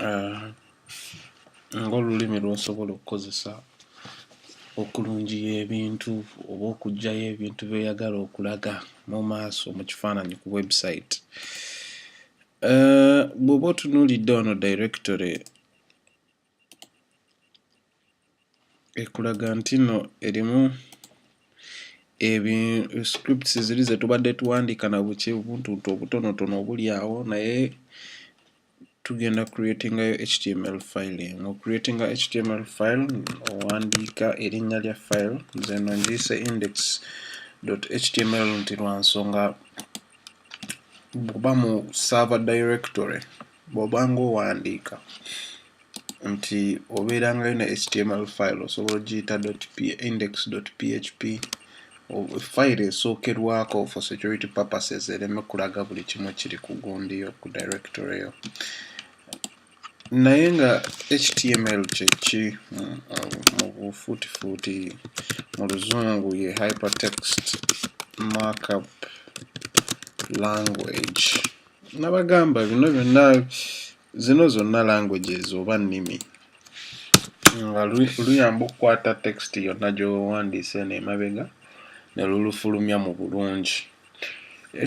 Ah, ng'olulimi lw'osobola okukozesa okulungiya ebintu oba okuggyayo ebintu by'oyagala okulaga mu maaso mu kifaananyi ku website. Eh, bw'oba otunuulidde wano directory ekulaga nti no erimu ebi scripts ziri zetubadde tuwandiika na buki buntuntu obutonotono obuli awo naye tugenda creatingayo html file eno creatinga html file owandiika erinnya lya file nze no ngiyise index html nti lwa nsonga kuba mu server directory bw'oba ng'owandiika nti obeerangayo ne html file osobola ogiyita index php file esookerwako for security purposes ereme kulaga buli kimu kiri ku gundi yo ku directory yo naye nga html kyeki hmm, mu bufuutifuuti mu luzungu ye hypertext markup language nabagamba bino byonna zino zonna languages oba nnimi nga luyamba okukwata text yonna gyowandiise eno emabega ne lulufulumya mu bulungi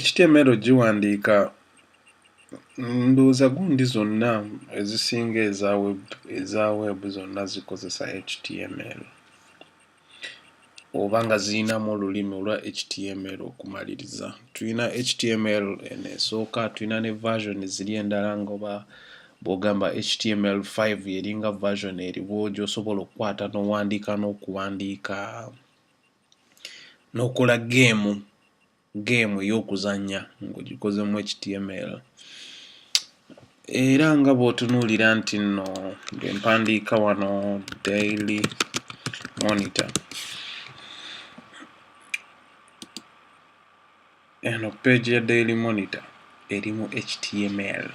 html giwandiika ndowooza gundi zonna ezisinga eza web zonna zikozesa html oba nga zirinamu olulimi olwa html okumaliriza tulina html eno esooka tulina ne version ziri endala ngoba bwogamba html 5 eringa version eriwo gyosobola okukwata n'owandiika n'okuwandiika n'okola geemu game ey'okuzannya ng'ogikozemu html era nga bw'otunuulira nti nno bwe mpandiika wano daily monitor eno page ya daily monitor erimu html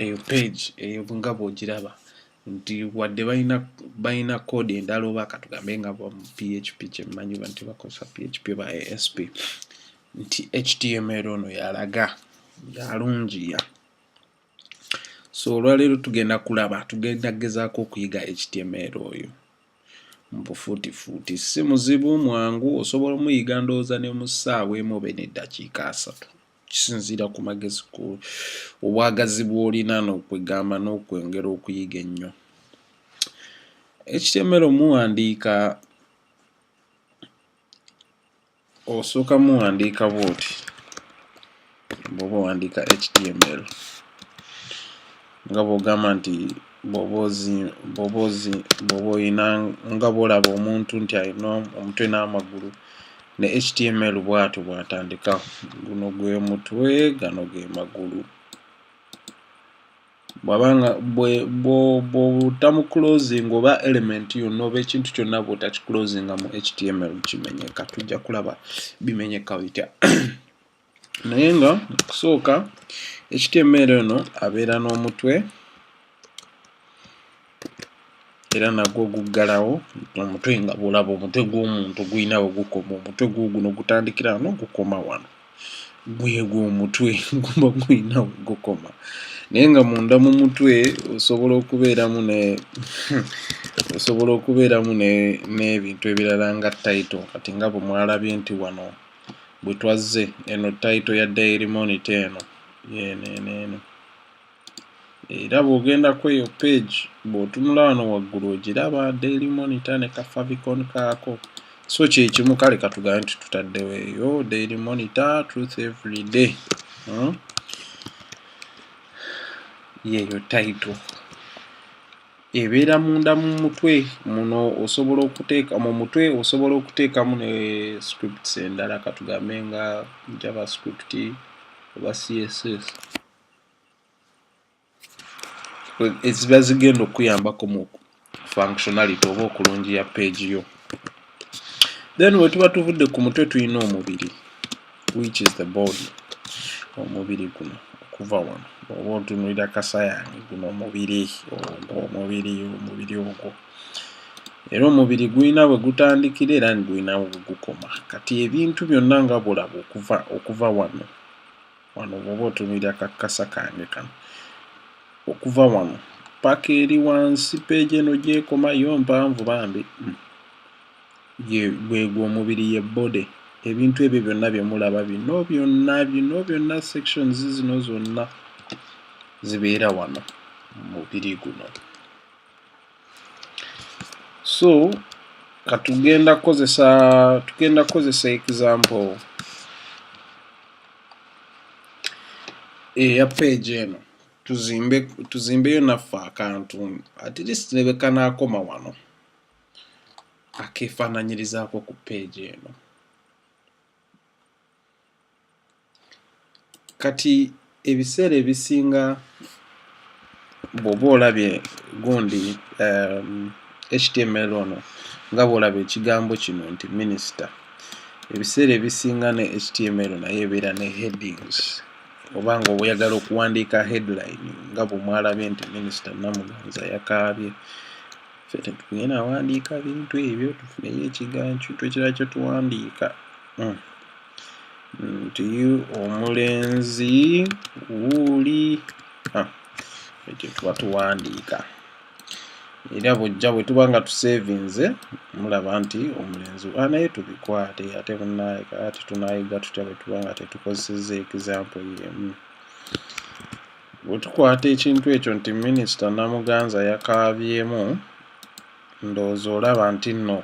eyo page eyo nga bw'ogiraba nti wadde balina balina code endala oba katugambe nga va mu php kyemmanyi ba nti bakozesa php oba asp nti html ono yalaga yalungiya so olwaleero tugenda kulaba tugenda gezaako okuyiga html oyo mubufuutifuuti si muzibu mwangu osobola omuyiga ndowooza ne mu ssaawa emu obe n'eddakiika asatu kisinziira ku magezi obwagazi bw'olina n'okwegamba n'okwongera okuyiga ennyo ekitemero muwandiika osooka muwandiika bwoti bwoba owandiika html nga bwogamba nti bwoba olina nga bwolaba omuntu nti alina omutwe n'amagulu ne html bwatyo bwatandika guno gwe mutwe gano ge magulu bwabanga bwotamu closing oba element yonna oba ekintu kyonna bwotakiclosinga mu html kimenyeka tujja kulaba bimenyeka bitya naye nga okusooka ekitya emmeere eno abeera n'omutwe era nagwo guggalawo omutwe nga bulaba omutwe gw'omuntu gulina we gukoma omutwe gwo guno gutandikira wano gukoma wano gwegwo omutwe guba gulina we gukoma naye nga munda mu mutwe osobola okubeeramu ne osobola okubeeramu n'ebintu ebirala nga tayito kati nga bwe mwalabye nti wano bwe twazze eno title ya daily monitor eno eno eno eno era bw'ogenda ku eyo page bw'otunula wano waggulu ogiraba daily monitor ne kafavicon kaako so kyekimu kale katugambe nti tutaddewo eyo daily monitor truth every day hmm? yeeyo title ebeera munda mu mutwe muno osobola okuteeka mu mutwe osobola okuteekamu ne scripts endala katugambe nga javascript oba css eziba zigenda okuyambako mu functionality oba okulungiya page yo then wetuba tuvudde ku mutwe tulina omubiri which is the body omubiri guno okuva wano oba otunulira kasayange guno omubiri ogwo omubiri omubiri ogwo era omubiri gulina bwe gutandikira era nigulina bwe gukoma kati ebintu byonna nga bulaba okuva okuva wano wano bwoba otumira kakasa kange kano okuva wano paka eri wansi peegi eno gyekoma yo mpanvu bambi hmm. gwegwo omubiri ye body ebintu ebyo byonna byemulaba bino byonna bino byonna sections zino zonna zibeera wano mubiri guno so katugenda kukozesa tugenda kukozesa example eya page eno tuzimbe tuzimbeyo naffe akantu at least nebekanaakoma wano akeefaananyirizaako ku page eno kati ebiseera ebisinga bwoba olabye gundi um, html ono nga bwolaba ekigambo kino nti minisita ebiseera ebisinga ne html naye ebeera ne headings oba nga oyagala okuwandiika headline nga bwemwalabye nti minisita namuganza yakaabye ffe tetugenda wandiika bintu ebyo tufuneyo ekigancu twekira kyo tuwandiika hmm. nti omulenzi wuuli ah, ekyo tuba tuwandiika era bujja bwe tuba nga tusevinze mulaba nti omulenzi ah, naye tubikwate ate bunayeka ati tunayiga tutya bwe tuba nga tetukozeseza example yemu Bwe tukwata ekintu ekyo nti minisita Namuganza yakaabyemu, ndowooza olaba nti nno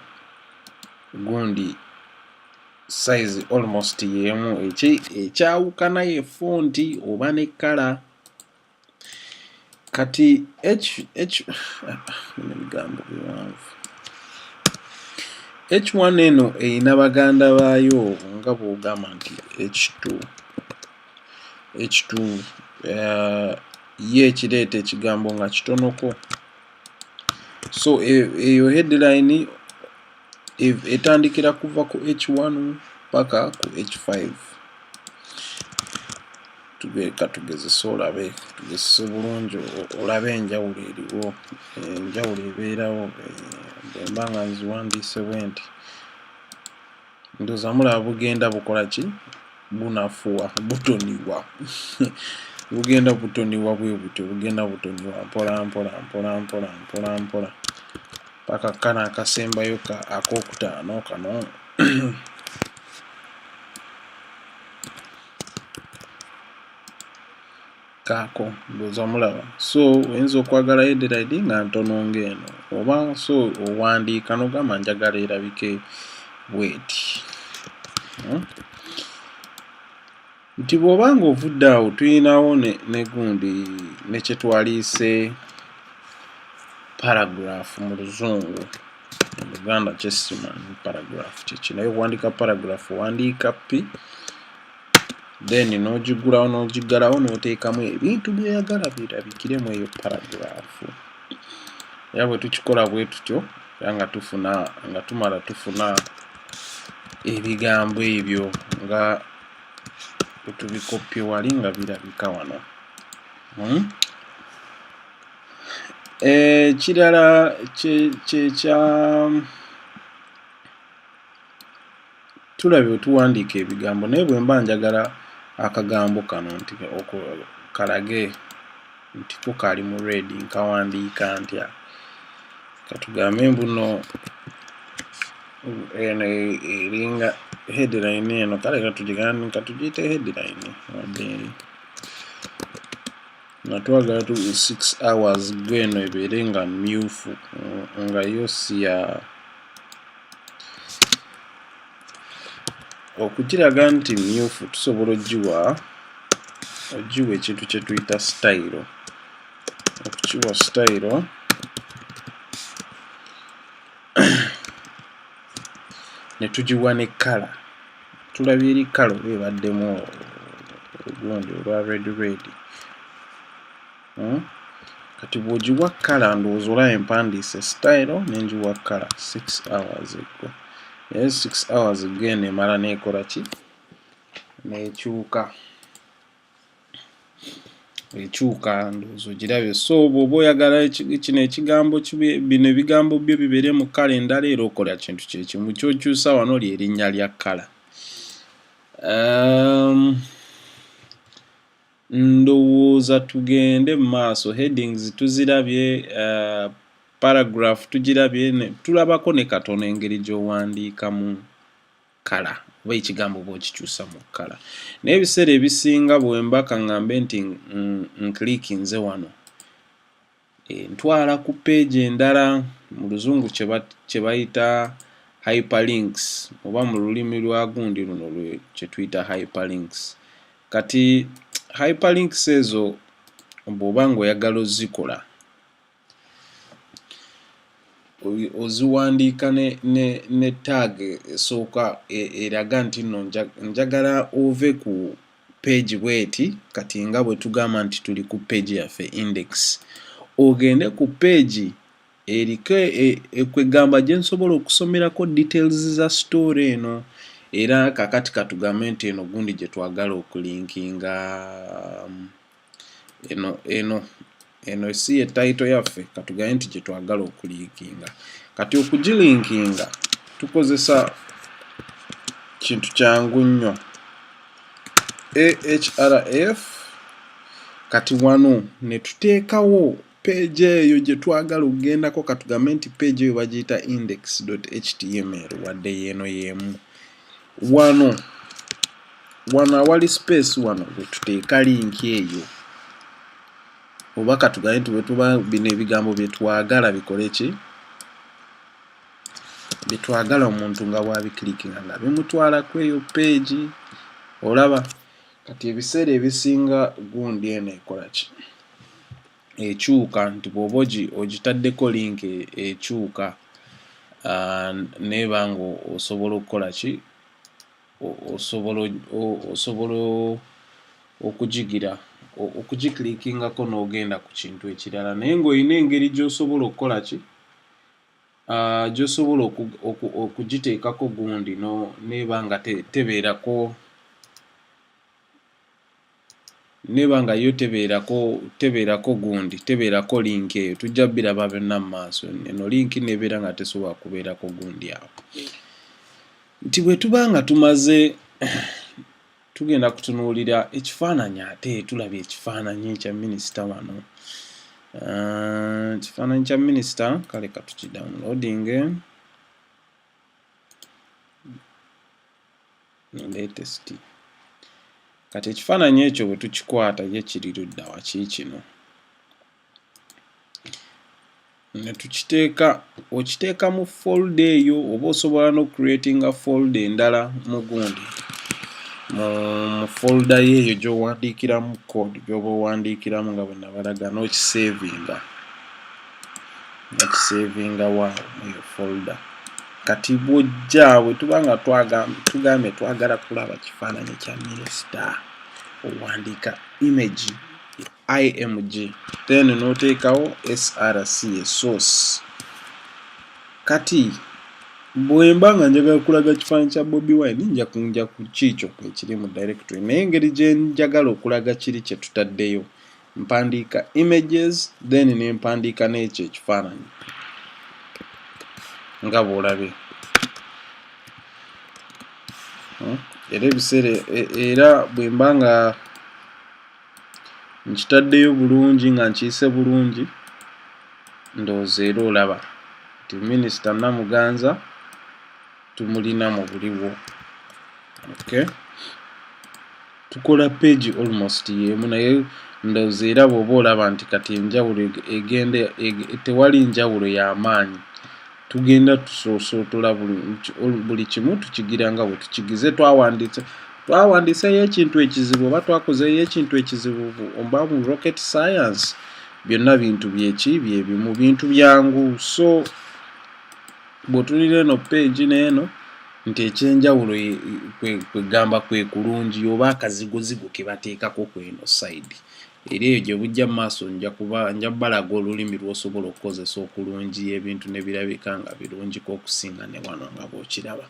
gundi sayizi almost y'emu ekyawukana ye fonti oba ne kkala kati ebigambo biwanvu H1 eno erina baganda baayo nga bw'ogamba nti H2. ekitundu eh, ye ekireeta ekigambo nga kitonoko so e, eyo headline e, etandikira kuva ku h1 paka ku h5 tubeeka tugezese olabe tugezese bulungi olabe enjawulo eriwo enjawulo ebeerawo eh, bwemba nga nziwandiise bwenti ndoza mulaba bugenda bukola ki bunafuwa butoniwa bugenda butoniwa bwe butyo bugenda butoniwa mpola mpola mpola mpola mpola mpola paka kana akasembayo ka akokutaano kano kaako mbuuza mulaba so oyinza okwagala headline nga ntono ng'eno oba so owandiika nogamba njagala erabike bweti hmm? nti bw'oba nga ovudde awo tuyinawo negundi nekyetwaliise paragraph mu luzungu oluganda kyesimanyi paragraph kyeki naye owandiika paragraph owandiika pi then n'ogiggulawo n'ogiggalawo n'oteekamu ebintu by'oyagala birabikire mu eyo paragiraafu era bwe tukikola bwe tutyo era nga tufuna nga tumala tufuna ebigambo ebyo nga bwetubikoppye wali nga birabika wano hmm? ekirala eh, kyekya tulabye bwe tuwandiika ebigambo naye bwe mba njagala akagambo kano nti kalage nti ko kaali mu red nkawandiika ntya katugambe mbuno eno eringa headline eno kale katugiyite headline wadde nga twagala tu 6 hours go eno ebeere nga myufu nga yo si ya okukiraga nti myufu tusobola ogiwa ogiwa ekintu kye tuyita sitayiro okukiwa sitayiro ne tugiwa ne kkala tulabye eri kala oba ebaddemu ogundi olwa red red hmm? kati bwogiwa kala ndowooza olaba empandiise style nengiwa kala 6 hours ago naye 6 hours ago eno emala nekola ki nekyuka ekyuka ndowooza ogirabye so bw'oba oyagala kino ekigambo bino ebigambo byo bibeere mu kkala endala era okola kintu kyekimu kyokyusa wano lyerinnya lya kkala ehm, ndowooza tugende mu maaso headings tuzirabye eh, paragraph tugirabye tulabako ne katono engeri gy'owandiikamu kala oba ekigambo oba okikyusa mu kala naye ebiseera ebisinga bwemba kaŋŋambe nti nklikinze wano eh, ntwala ku peegi endala mu luzungu kye bayita hyperlinks oba mu lulimi lwa gundi luno kye tuyita hyperlinks kati hyperlinks ezo bw'oba ng'oyagala ozikola oziwandiika ne, ne, ne tag esooka e, eraga nti nno njagala ove ku page bweti kati nga bwe tugamba nti tuli ku page yaffe index ogende ku page eriko e, e, kwegamba gye nsobola okusomerako details za story eno era kakati katugambe nti eno gundi gye twagala okulinkinga um, eno eno eno si ye title yaffe katugaye nti gyetwagala okulinkinga kati okugilinkinga tukozesa kintu kyangu nnyo ahrf kati wano netuteekawo Page eyo gye twagala okugendako katugambe nti page eyo bagiyita index.html wadde yeeno yeemu wano wano awali space wano wetuteeka linki eyo oba katugambe nti wetuba bino ebigambo byetwagala bikole ki byetwagala omuntu nga bwabikilikinga nga bimutwala kweyo page olaba Kati ebiseera ebisinga gundi eno ekolaki ekyuka nti bwoba ogitaddeko link e, ekyuka ah, neeba nga osobola okukola ki osobola okugigira okugiklikingako n'ogenda ku kintu ekirala naye ng'olina engeri gy'osobola okukola ki ah, gyosobola okugiteekako gundi no neeba nga te, tebeerako neeba nga yo tebeerako tebeerako gundi tebeerako linki eyo tujja biraba byonna mu maaso eno linki nebeera nga tesobola kubeerako gundi awo nti bwe tuba nga tumaze tugenda kutunuulira ekifaananyi ate tulabye ekifaananyi kya minisita wano ah, ekifaananyi kya minisita kale katukidownloadinge latest kati ekifaananyi ekyo bwe tukikwata ye kiri ludda waki kino ne tukiteeka okiteeka mu folda eyo oba osobola no creatinga folda endala mu gundi mu folda yo eyo gyowandiikiramu code gyoba owandiikiramu nga bwe nabalaga n'okisevinga nakisevinga wa eyo folda kati bwojja bwe tuba nga tugambye twagala kulaba kifaananyi kya minisita owandiika imagi img then noteekawo src esource kati bwemba nga njagala kulaga kifaananyi kya bobi wine nja kunja ku kiikyo ekiri mu directory naye engeri gye njagala okulaga kiri kye tutaddeyo mpandiika images then ne mpandiika n'ekyo ekifaananyi nga bw'olabye hmm? era ebiseera e, era bwemba nga nkitaddeyo bulungi nga nkiyise bulungi ndowooza era olaba nti minisita namuganza tumulina mu buliwo okay. tukola page almost yemu naye ndowooza era bwoba olaba nti kati enjawulo egenda tewali njawulo y'amaanyi tugenda tusoosootola buli kimu tukigira nga bwe tukigize twawandiise twawandiiseyo ekintu ekizibu oba twakozeyo ekintu ekizibu oba mu rocket science byonna bintu byeki byebimu bintu byangu so bwotulira eno page neeno nti ekyenjawulo kwegamba kwe kulungi oba akazigozigo ke bateekako kweno side era eyo gye bujja mu maaso nja kuba nja balaga olulimi lw'osobola okukozesa okulungi ebintu ne birabika nga birungiko okusinga ne wano nga bw'okiraba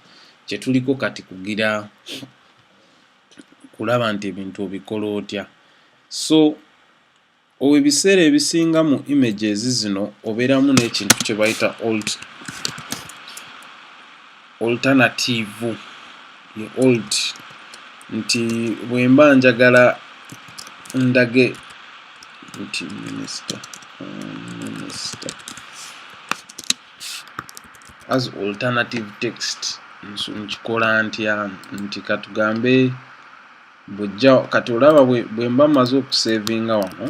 kye tuliko kati kugira kulaba nti ebintu obikola otya so ebiseera ebisinga mu images zino obeeramu n'ekintu kye bayita old alternative ye old nti bwemba njagala ndage nti minister minister as alternative text nkikola ntya nti katugambe bwejja kati olaba bwemba maze okusevinga wano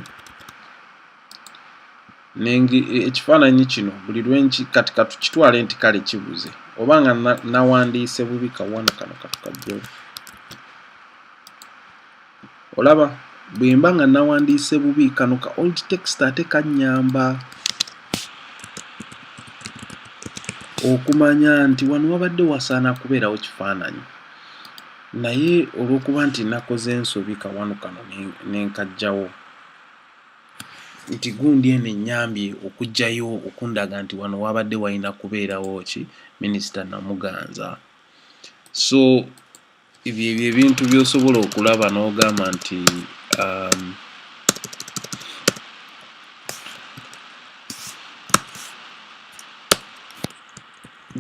ekifaananyi kino buli lwenki kati katukitwale nti kale kibuze oba nga nawandiise bubi kawano kano katukajjo olaba bwemba nga nawandiise bubi kano ka old text ate kanyamba okumanya nti wano wabadde wasaana kubeerawo kifaananyi naye olw'okuba nti nakoze ensobi kawano kano nenkajjawo ne nti gundi eno ennyambye okujjayo okundaga nti wano wabadde walina kubeerawo ki minisita Namuganza so ebyo ebyo ebintu by'osobola okulaba n'ogamba nti um,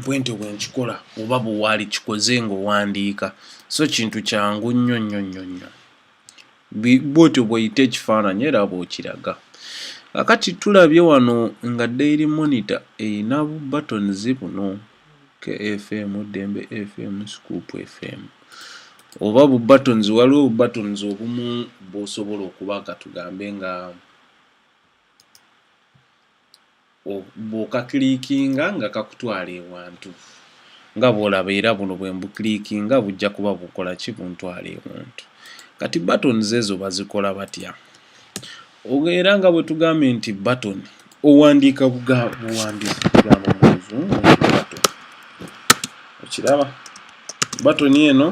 bwentyo bwe nkikola oba bwe waali kikoze ng'owandiika so kintu kyangu nnyo nnyo nnyo nnyo bwotyo bweyita ekifaananyi era bwokiraga akati tulabye wano nga daily monitor erina bu buttons buno kfm dembe fm scoop fm oba bu buttons waliwo bu buttons obumu bwosobola okuba katugambe nga bw'okakiliikinga nga kakutwala ewantu nga bw'olaba era buno bwe mbukiliikinga bujja kuba bukola ki buntwala ewantu kati buttons ezo bazikola batya era nga bwe tugambye nti button owandiika buwandiika ekigambo mu luzungu button okiraba button eno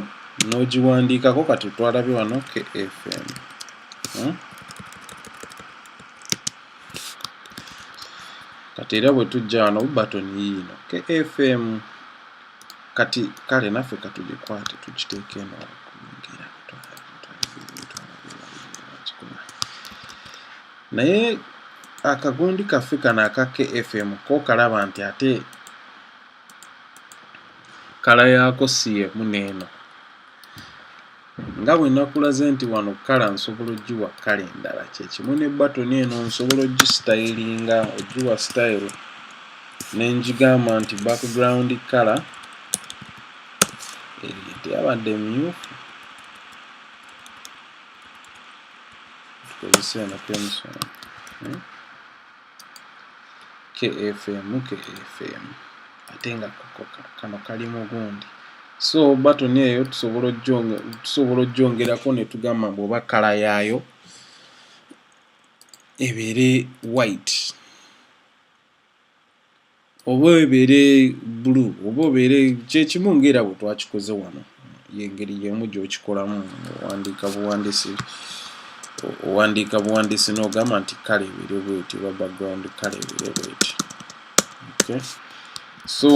n'ogiwandiikako kati twalabye wano kfm hmm? kati era bwe tujja wano button yiino kfm kati kale naffe katugikwate tukiteeke eno naye akagundi kaffe kano aka kfm ko kalaba nti ate kala yaako si emu n'eno nga bwe nakulaze nti wano kkala nsobola ogiwa kkala endala kyekimu ne batoni eno nsobola ogisitayiringa ogiwa sitayiro ne ngigamba nti background kkala eyo teyabadde myufu tukozesa eno pensoni hmm? kfm kfm ate nga kano kali mugundi so batoni eyo tusobola ojjongerako netugamba mbu oba kala yaayo ebeere white oba ebeere bulu oba obeere kyekimu ngaera bwe twakikoze wano yengeri yemu gyokikolamu owandiika buwandiisi owandiika buwandiisi n'ogamba nti kale ebeere bweti oba background kale ebeere bweti okay. so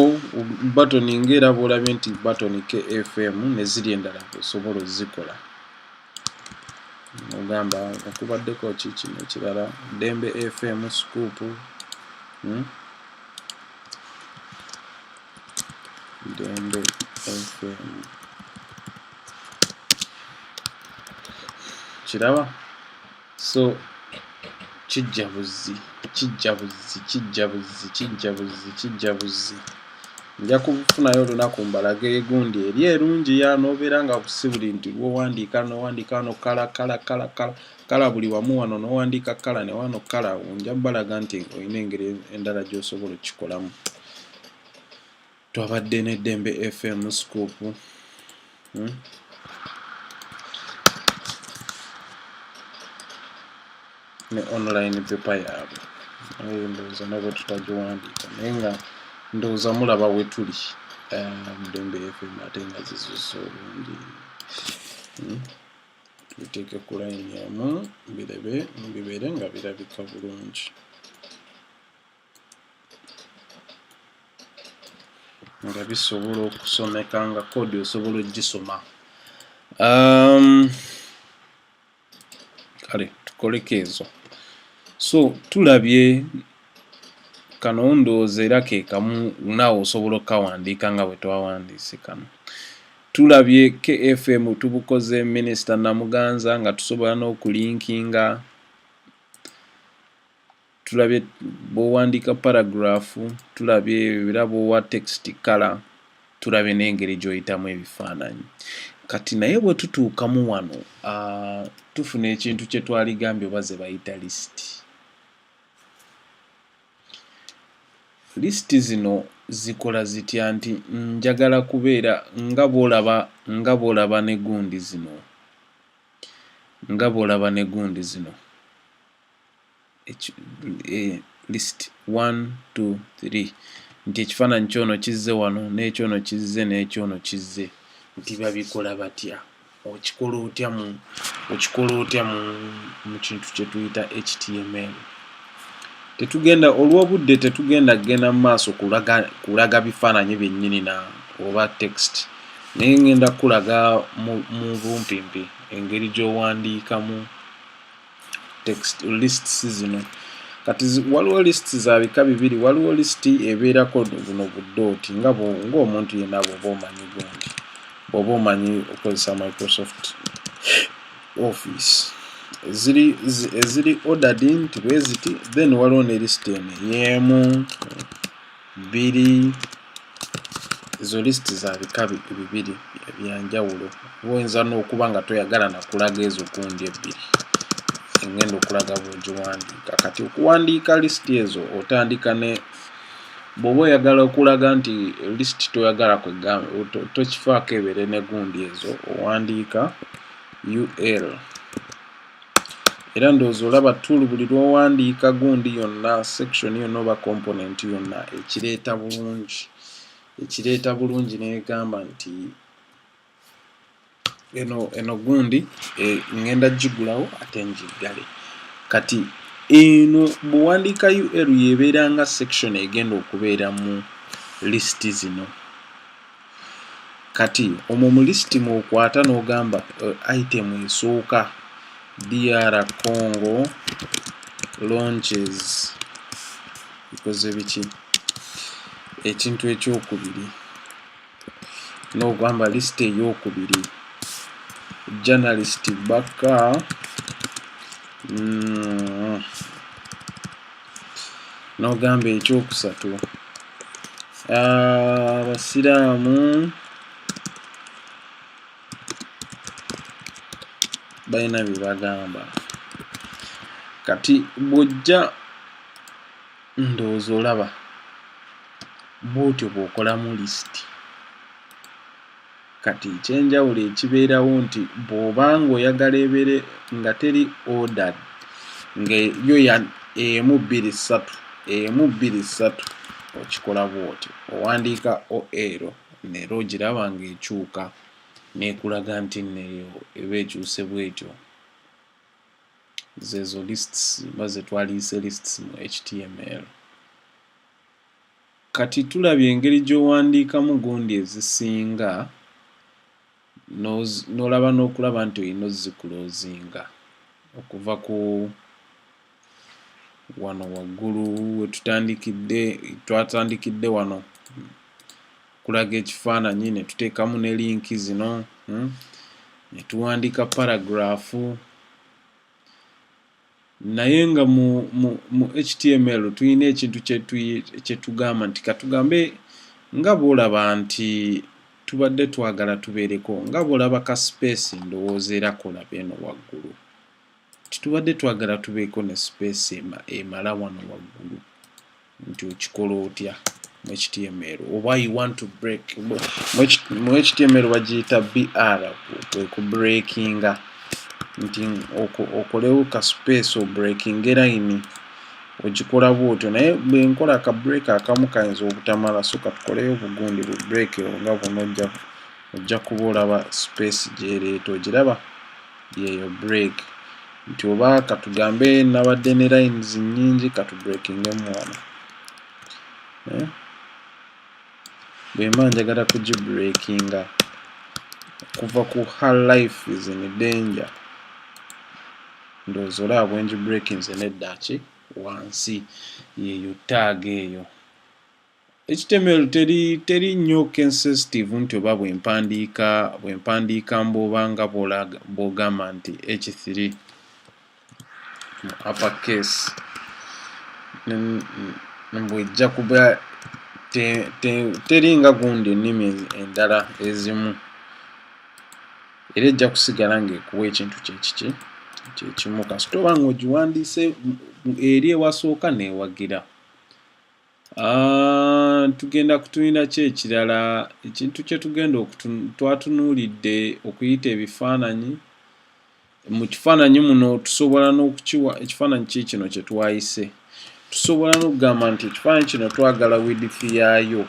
batoni ngaera bwolabye nti batoni kfm neziri endala osobola ozikola ogamba nga kubaddeko ki kino ekirala ddembe fm scupu hmm? ddembe fm kiraba so kijja buzzi kijja buzzi kijja buzzi kijja buzzi kijja buzzi nja kufunayo olunaku mbalaga egundi eri erungi ya nobeera nga si buli nti lwowandiika nowandiika wano kala kala kala kala kala buli wamu wano nowandiika kala ne wano kala nja balaga nti olina engeri endala gyosobola okukikolamu twabadde ne Dembe FM scoop hmm? ne online paper yaabwe naye ndowooza nabwe tutagiwandiika naye nga ndowooza mulaba wetuli um, Dembe FM ate nga zizusa obungi hmm? biteeke ku layini emu birebe bibeere nga birabika bulungi nga bisobola okusomeka nga kodi osobola ogisoma um, kale tukoleko ezo so tulabye kano ndowooza era ke kamu naawe osobola okukawandiika nga bwe twawandiise kano tulabye kfm tubukoze minisita namuganza nga tusobola n'okulinkinga tulabye bw'owandiika paragraph tulabye era bw'owa text kala tulabye n'engeri gy'oyitamu ebifaananyi kati naye bwe tutuukamu wano uh, tufuna ekintu kye twali gambye oba ze bayita lisiti lisiti zino zikola zitya nti njagala kubeera nga bwolaba nga bwolaba ne gundi zino nga bwolaba ne gundi zino eh, list 1 2 3 nti ekifaananyi kyono kizze wano n'ekyono kizze n'ekyono kizze nti babikola batya okikola otya mu okikola otya mu mu kintu kye tuyita html tetugenda olw'obudde tetugenda kugenda mu maaso kulaga kulaga bifaananyi byennyini na oba text naye ngenda kukulaga mu bumpimpi engeri gy'owandiikamu text lists zino kati waliwo lists za bika bibiri waliwo list ebeerako buno budooti nga ng'omuntu yenna bwoba omanyi gundi bwoba omanyi okozesa microsoft office eziri eziri ordered nti bweziti then waliwo ne list eno yeemu biri ezo list za bika bibiri ebyanjawulo oyinza n'okuba nga toyagala nakulaga ezo gundi ebbiri engenda okulaga bwogiwandiika kati okuwandiika list ezo otandika ne bwoba oyagala okulaga nti list toyagala tokifaako ebeere ne gundi ezo owandiika ul era ndowooza olaba tool buli lwowandiika gundi yonna section yonna oba component yonna ekireeta bulungi ekireeta bulungi negamba nti eno eno gundi e, ngenda gigulawo ate ngiggale kati eno bwewandiika ul yebeera nga section egenda okubeera mu list zino kati omwo mu lisiti mwokwata n'ogamba eh, item esooka dr congo launches ikoze biki ekintu ekyokubiri n'ogamba lisiti eyokubiri journalist bakka mm, n'ogamba ekyokusatu abasiraamu balina bye bagamba kati bw'ojja ndowooza olaba bw'otyo bw'okolamu lisiti. Kati ekyenjawulo ekibeerawo nti bw'oba ng'oyagala ebeere nga teri ordered nga yo emu bbiri ssatu emu bbiri ssatu okikola bw'otyo owandiika OL neera ogiraba ng'ekyuka n'ekulaga nti nno eyo eba ekyuse bw'etyo. Zeezo lists oba ze twaliyise lists mu HTML. Kati tulabye engeri gy'owandiikamu gundi ezisinga n'olaba n'okulaba nti olina ozikulozinga okuva ku wano waggulu wetutandikidde twatandikidde wano kulaga ekifaananyi ne tuteekamu ne linki zino hmm, ne tuwandiika paragraafu naye nga mu, mu, mu html tulina ekintu kyetugamba nti katugambe nga bwolaba nti tubadde twagala tubeereko nga bwolaba ka space ndowooza era kolaba eno waggulu titubadde twagala tubeeko ne space emala wano waggulu nti okikola otya mu html oba you want to break mu html bagiyita br kwe ku breakinga nti okolewo ka space o breaking line ogikola bwotyo naye bwenkola ka break akamu kayinza obutamala so katukoleyo obugundi bu break nga bunojja ojja kuba olaba space gyereeta ogiraba yeeyo break nti oba katugambe nabadde ne lines nyingi katubreakingemu wano eh? bwemba njagala kugibreakinga okuva ku her life is in danger ndowooza olaba bwengi breakinze neddaki wansi yeyo taaga eyo HTML teri teri nnyo kensensitive nti oba bwe mpandiika bwe mpandiika mbwoba nga bw'ogamba nti H3 mu upper case mbwejja kuba teri nga gundi ennimi endala ezimu era ejja kusigala ng'ekuwa ekintu kyekiki kyekimu kasita oba nga ogiwandiise eri ewasooka neewagira Ah, tugenda kutulina ki ekirala ekintu kye tugenda twatunuulidde okuyita ebifaananyi mu kifaananyi muno tusobola n'okukiwa ekifaananyi ki kino kye twayise tusobola n'okugamba nti ekifaananyi kino twagala widifi yaayo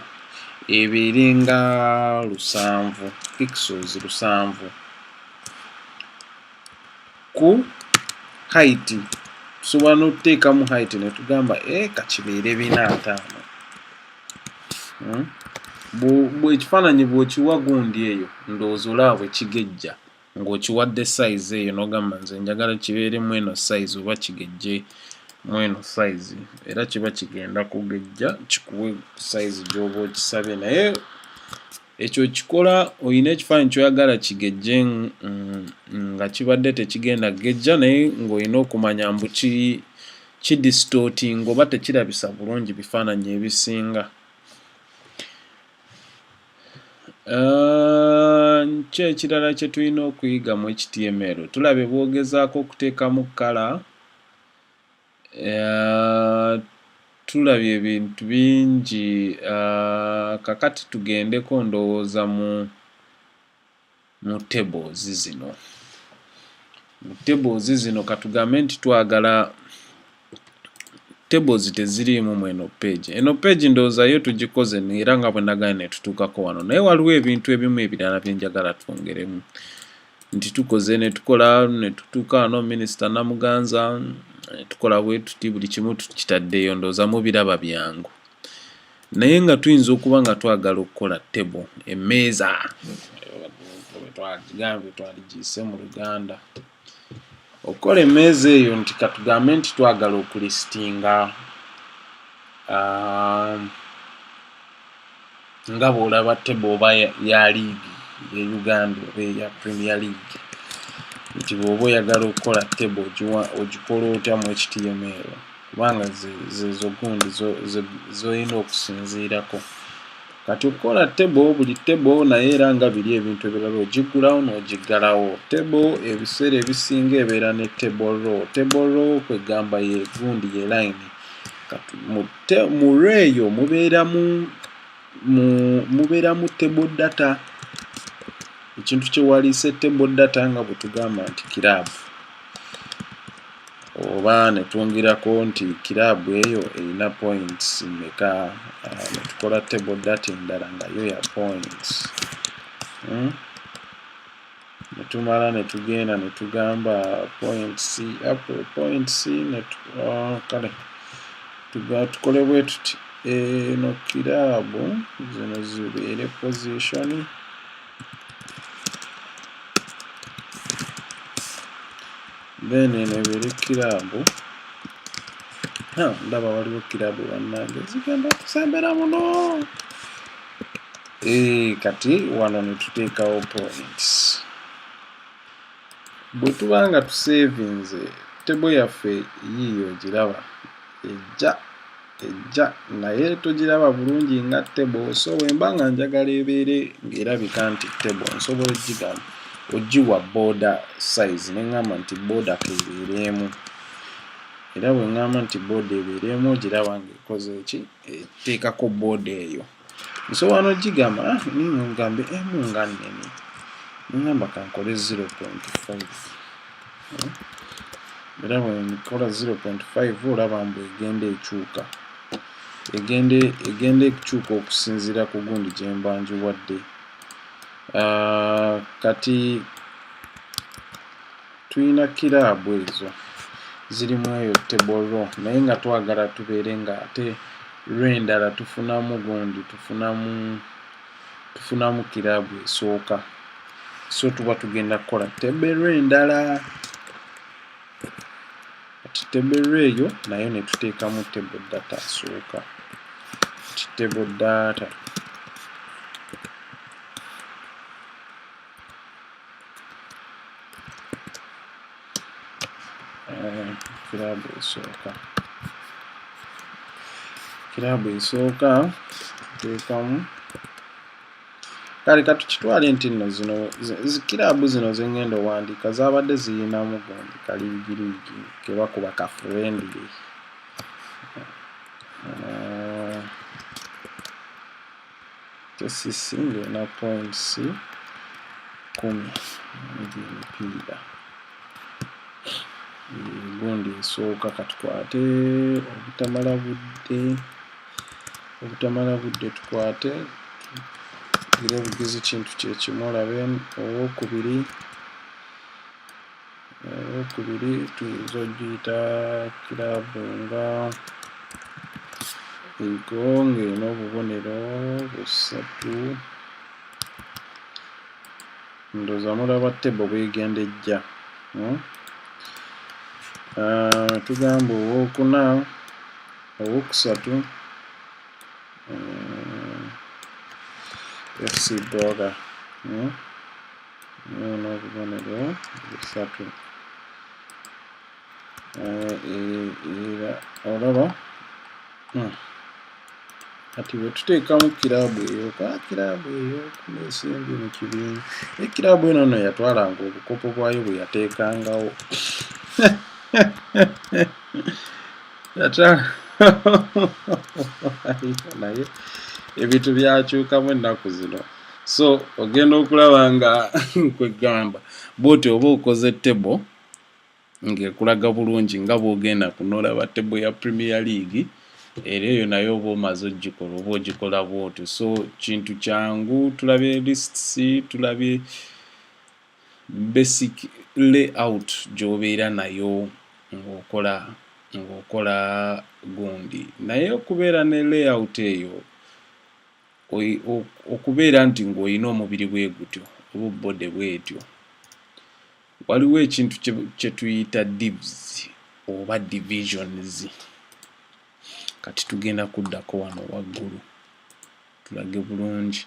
ebeere nga lusanvu pixels lusanvu ku height tusobola n'okuteekamu height ne tugamba e eh, kakibeere bina ataano hmm? bwekifaananyi bw'okiwa gundi eyo ndowooza olaba bwe kigejja ng'okiwadde sayizi eyo n'ogamba nze njagala kibeere mu eno sayizi oba kigejje mu eno sayizi era kiba kigenda kugejja kikuwe sayizi gy'oba okisabye naye Ekyo okikola olina ekifaananyi ky'oyagala kigejje mm, nga kibadde tekigenda kugejja naye ng'olina okumanya mbu ki kidisitootinga oba tekirabisa bulungi bifaananyi ebisinga. Ah, ki ekirala kye tulina okuyiga mu HTML? Tulabye bwogezaako okuteekamu kkala. Tulabye ebintu bingi kakati tugendeko ndowooza mu mu tables zino. Mu tables zino katugambe nti twagala tables teziriimu mu eno page. Eno page ndowooza yo tugikoze era nga bwe nagambye ne tutuukako wano naye waliwo ebintu ebimu ebirala bye njagala twongeremu. nti tukoze netukola netutuuka wano minisita namuganza tukola bwetuti buli kimu tukitaddeyo ndooza mubiraba byangu naye nga tuyinza okuba nga twagala okukola table emmeeza twagambye twaligiyise mu luganda okukola emmeeza eyo nti katugambe nti twagala okulisitinga um, nga bw'olaba tebo oba ya liigi ye uganda oba eya premier league nti bw'oba oyagala okukola tebo ogikola otya mu html kubanga zezo gundi zolina okusinziirako kati okukola tebo buli tebo naye era nga biri ebintu ebirala ogiggulawo n'ogiggalawo tebo ebiseera ebisinga ebeera ne tebo row tebo row kwegamba ye gundi ye layini mu re eyo mubeeramu mubeeramu table data ekintu kyewaliise table data nga bwe tugamba nti kiraabu oba ne twongerako nti kiraabu eyo erina points meka ah, ne tukola table data endala nga yo ya points hmm? netumala netugenda netugamba point c up point c ah, kale tukole bwe tuti eno kiraabu zino zibeere position then eno ebeere kiraabu ndaba waliwo kiraabu bannange zigenda kusembera muno Eh, kati wano netuteekawo points bwe tuba nga tusevinze tebo yaffe yiiyo ogiraba ejja ejja naye togiraba bulungi nga tebo so wemba nga njagala ebeere ngaerabika nti tebo nsobola ogigamba ogiwa boda size neŋamba nti boda kebeereemu era bwe ŋŋamba nti booda ebeera emu ogiraba ng'ekoze eki eteekako booda eyo nsobola nogigamba ah, ngambe emu eh, nga nnene ngamba kankole 0.5 era bwenkola 0.5 olaba mbu egenda ekyuka egenda ekukyuka okusinziira ku gundi gyembanjiwadde ah, kati Tulina kiraabu ezo ziri mu eyo table row naye nga twagala tubeere nga ate lw'endala tufunamu gundi tufunamu tufunamu kiraabu esooka so tuba tugenda kukola table row endala kati table row eyo nayo ne tuteekamu table data asooka table data eh, kiraabu esooka kiraabu esooka tuteekamu kale katukitwale nti nno zino kiraabu zino zengenda owandiika zabadde ziyinamu gundi kaliigiriigi kebakuba ka friendly Tesisi ng'erina points kumi egy'emipiira gundi esooka katukwate obutamala budde obutamala budde tukwate era obugizi kintu kyekimu olabe owokubiri eyokubiri tuyinza ogiyita kiraabu nga ego ng'erina obubonero busatu ndoza mulaba tebo bwegendejja hmm? ah, tugamba owokuna owokusatu eh, fc boga hmm? Waliwo n'obubonero busatu. Eh, era olaba hmm. kati bwe tuteekamu kiraabu eyo ka kiraabu eyo nesimbi mu kibiina naye kiraabu eno no yatwalanga obukopo bwayo bwe yateekangawo naye ebintu byakyukamu ennaku zino so ogenda okulaba nga kwegamba bwoti oba okoze table ng'ekulaga bulungi nga bw'ogenda kunolaba table ya premier league era eyo naye oba omaze ogikola oba ogikola bwotyo so kintu kyangu tulabye lists tulabye basic layout gyobeera nayo ng'okola ng'okola gundi naye okubeera ne layout eyo okubeera nti ng'olina omubiri bwe gutyo oba obbode bwetyo waliwo ekintu kye tuyita divs oba divisions kati tugenda kuddako wano waggulu tulage bulungi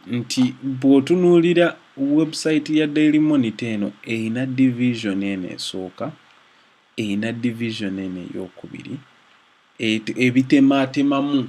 nti bw'otunuulira webusayiti ya daily monitor eno erina division eno esooka erina division eno ey'okubiri ebitemaatemamu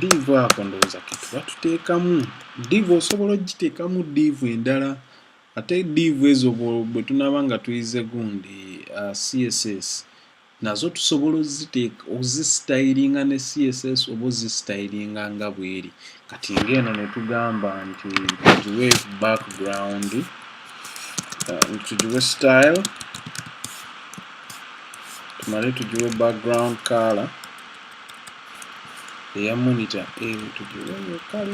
diivu ako ndowooza ketuba tuteekamu diivu osobola okugiteekamu diivu endala ate diivu ezo bwe tunaaba nga tuyize gundi uh, css nazo tusobola oziteeka ozisitayiringa ne css oba ozisitayiringa nga bweri kati ng'eno netugamba nti tugiwe background uh, tugiwe style tumale tugiwe background color eya monitor eyo tugiwe yokale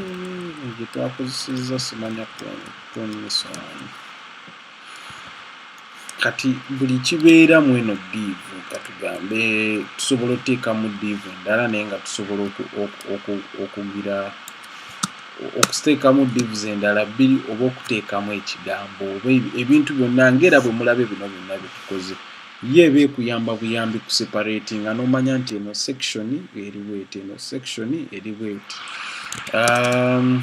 gye twakozesezza simanya kutonesa wano kati buli kibeera mu eno diivu katugambe tusobola oteekamu diivu endala naye nga tusobola okugira okuteekamu diivu zendala bbiri oba okuteekamu ekigambo oba ebintu byonna ngaera bwe mulabe bino byonna byetukoze ye eba ekuyamba buyambi ku separati nga nomanya nti eno section eriweti eno section eriweti um,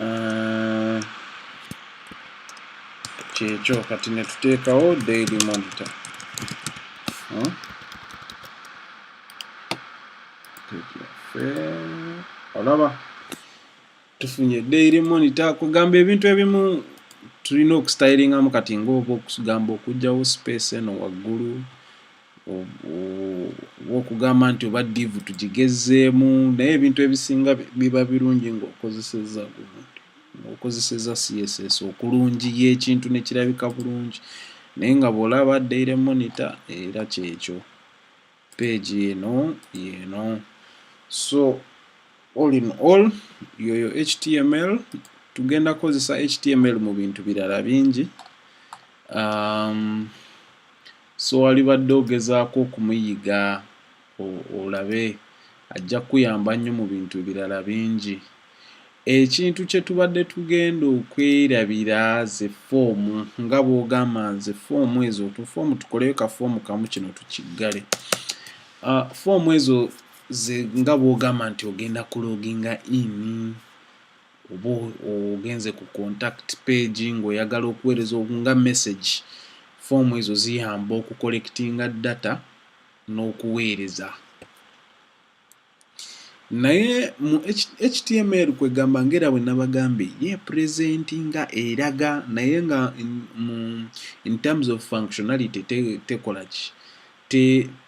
uh, kyekyo kati netuteekawo daily monitor huh? olaba tufunye daily monitor kugamba ebintu ebimu tulina okustylingamu kati ngaoba okugamba okugyawo space eno waggulu okugamba nti oba diivu tugigezzeemu naye ebintu ebisinga biba birungi ng'okozesezza ng'okozesezza CSS okulungiya ekintu ne kirabika bulungi naye nga bw'olaba daily monitor era kyekyo peegi eno yeeno so all in all yoyo html tugenda kukozesa html mu bintu birala bingi um, So walibadde ogezaako okumuyiga olabe ajja kukuyamba nnyo mu bintu ebirala bingi. Ekintu kye tubadde tugenda okwerabira ze foomu nga bw'ogamba nze foomu ezo tufoomu tukoleyo ka foomu kamu kino tukiggale. Uh, foomu ezo ze nga bw'ogamba nti ogenda kuloginga in oba ogenze ku contact page ng'oyagala okuweereza nga message foomu ezo ziyamba okukolekitinga data n'okuweereza naye mu html kwegamba ngaera bwe nabagambye ye purezenti nga eraga naye nga in terms of functionality tekola ki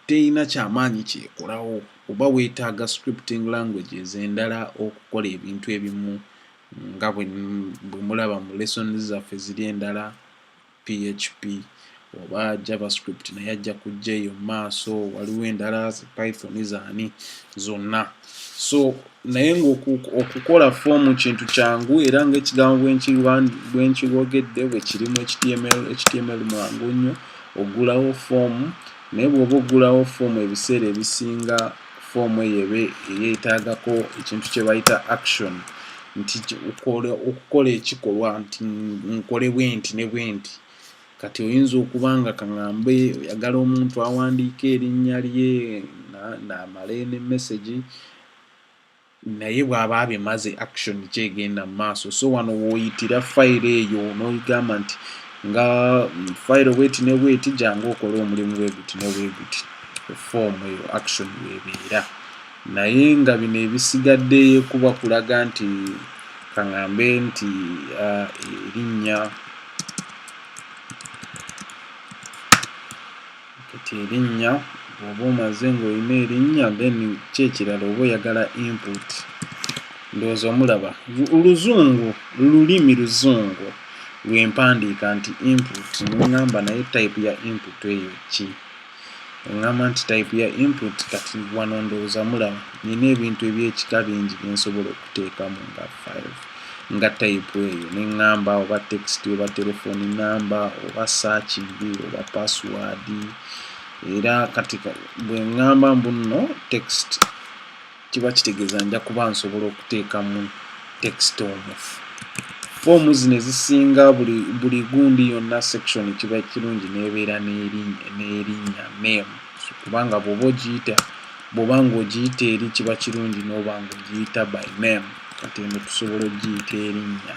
teyina kyamaanyi kyekolawo oba weetaaga scripting language ez'endala okukola ebintu ebimu nga bwe mulaba mu lesson zaffe ziri endala php oba javascript naye ajja kujja eyo mu maaso waliwo endala python zaani zonna so naye ng'okukola foomu kintu kyangu era ng'ekigambo bwe nkibogedde bwe kirimu html mwangu nnyo ogulawo foomu naye bw'oba ogulawo foomu ebiseera ebisinga foomu eyo ebe eyetagako ekintu kye bayita action nti okukola ekikolwa nti nkole bwe nti ne bwe nti kati oyinza okuba nga kaŋambe oyagala omuntu awandiika erinnya lye naamala ne mesegi naye bw'aba abimaze action ki egenda mu maaso so wano wooyitira fayiro eyo n'oyigamba nti nga fayiro bweti ne bweti jangu okole omulimu bweguti ne bweguti foomu eyo action webeera naye nga bino ebisigadde kuba kulaga nti kaŋambe nti uh, erinnya uh, kati erinnya bwoba omaze ng'olina erinnya then ki ekirala oba oyagala input ndowooza omulaba oluzungu lulimi luzungu lwempandiika nti input neŋŋamba naye type ya input eyo ki eŋŋamba nti type ya input kati wano ndowooza mulaba nina ebintu ebyekika bingi byensobola teekamu nga 5 nga type eyo ne ŋŋamba oba text oba telefoni namba oba saakindi oba password era kati bwe ŋŋamba mbu nno text kiba kitegeeza nja kuba nsobola okuteekamu text omufu foomu zino ezisinga buli gundi yonna section kiba kirungi n'ebeera n'erinnya name kubanga bw'oba ogiyita bw'oba ng'ogiyita eri kiba kirungi n'oba ng'ogiyita by name kati eno tusobola okugiyita erinnya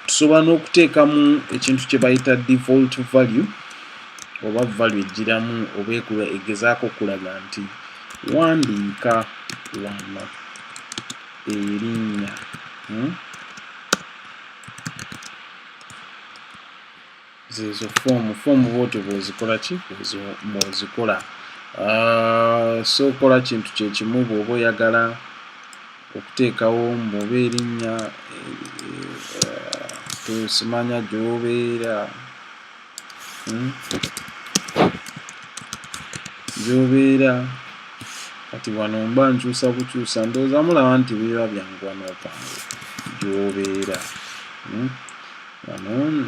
tusobola n'okuteekamu ekintu kye bayita default value oba value ejjiramu oba ekula egezaako okulaga nti wandiika wano erinnya hmm? zezo foomu foomu bwotyo bwozikola ki bwozikola ah, so kola kintu kyekimu bwoba oyagala okuteekawo muba erinnya tusimanya eh, eh, gyobeera hmm? gyobeera kati wano mba nkyusa bukyusa ndowooza mulaba nti biba byangu wano opange gyobeera hmm? wano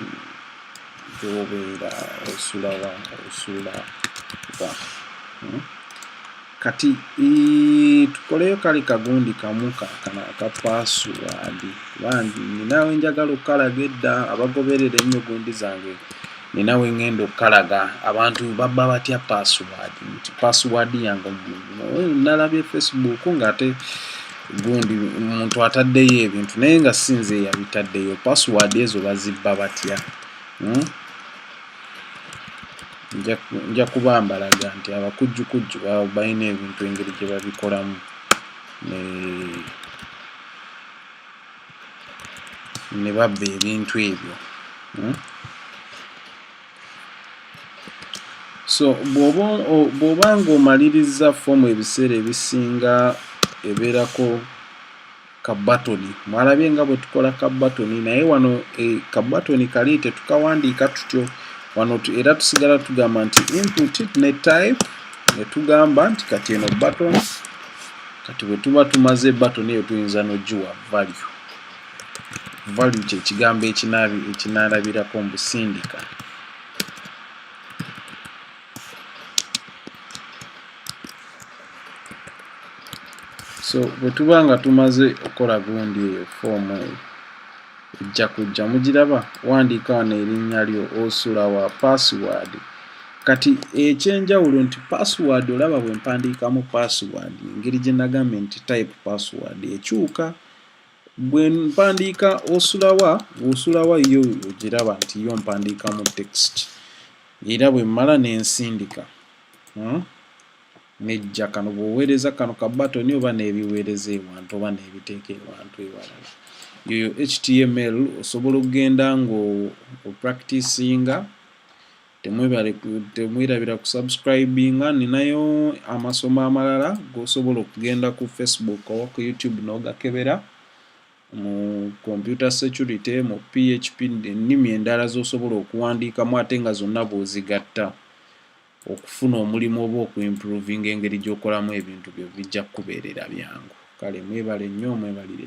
gyobeera osula wa osula wa hmm? kati tukoleyo kale kagundi kamu kakana aka password bandi ninawe njagala okukalaga edda abagoberera ennyo gundi zange nina wengenda okukalaga abantu babba batya password nti password yange nalabye facebook ngaate gundi omuntu ataddeyo ebintu naye nga sinze yabitaddeyo password ezo bazibba batya hmm? nja kubambalaga nti abakujjukujju balina ebintu engeri gye babikolamu ne babba ebintu ebyo hmm? so bw'oba ng'omalirizza foomu ebiseera ebisinga ebeerako ka batoni mwalabye nga bwe tukola ka batoni naye wano e, ka batoni kali tetukawandiika tutyo wano era tusigala tugamba nti input ne type ne tugamba nti kati eno batoni kati bwe tuba tumaze batoni eyo tuyinza n'ogiwa value value kye kigambo ekinaalabirako mbusindika so bwe tuba nga tumaze okukola gundi eyo foomu eyo ejja kujja mugiraba wandiika wano erinnya lyo osula wa password kati ekyenjawulo nti password olaba bwe mpandiikamu password engeri gye nagambye nti type password ekyuka bwe mpandiika osulawa osulawa yo ogiraba nti yo mpandiikamu text era bwe mmala n'ensindika hmm? Nejja kano bw'oweereza kano ka batoni oba n'ebiweereza ewantu oba n'ebiteeka ewantu ewalala. Yoyo HTML osobola okugenda ng'opracticinga temwerabira ku subscribinga ninayo amasomo amalala g'osobola okugenda ku facebook oba ku youtube n'ogakebera mu computer security mu php ennimi endala z'osobola okuwandiikamu ate nga zonna bw'ozigatta okufuna omulimu oba oku improvinga engeri gy'okolamu ebintu byo bijja kukubeerera byangu. Kale mwebale nnyo mwebalire.